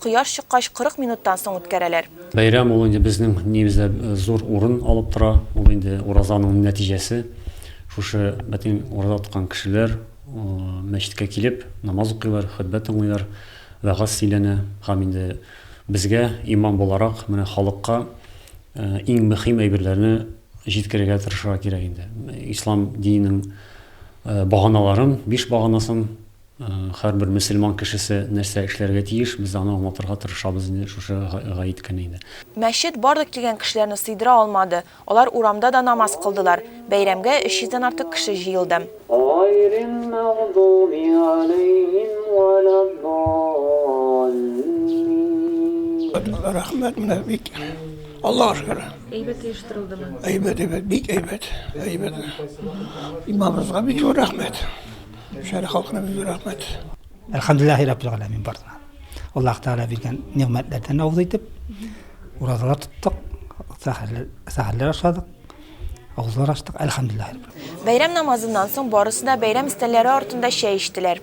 Кояш чыккач 40 минуттан соң үткәрәләр. Бәйрәм ул инде безнең динебездә зур урын алып тора. Ул инде уразаның нәтиҗәсе. Шушы бәтин ураза тоткан кешеләр мәчеткә килеп, намаз укыйлар, хөтбә тыңлыйлар, вәгазь сөйләнә һәм инде безгә, имам буларак, менә халыкка иң мөхим әйберләрне җиткерергә тырышырга кирәк инде. Ислам диненең баганаларын, биш баганасын Һәрбер мөселман кешесе нәрсә эшләргә тиеш, без аны аңлатырга тырышабыз инде шушы гает көне иде. Мәчет барлык килгән кешеләрне сыйдыра алмады, алар урамда да намаз кылдылар. Бәйрәмгә 300 дән артык кеше җыелды. Гайрил мәгъдуби галәйһим вә лә ддаллин. Рәхмәт, менә бик, Аллага шөкер. Әйбәт оештырылдымы? Әйбәт, әйбәт, бик әйбәт, әйбәт. Имамыбызга бик зур рәхмәт. Шәһәр халкына бик зур рәхмәт. Әлхәмдүлилләһи раббил галәмин барына. Аллаһ Тәгалә биргән нигъмәтләрдән авыз итеп, уразалар тоттык, сәхәрләр ашадык, авызлар ачтык, әлхәмдүлилләһи раббил. Бәйрәм намазыннан соң барысы да бәйрәм өстәлләре артында чәй эчтеләр.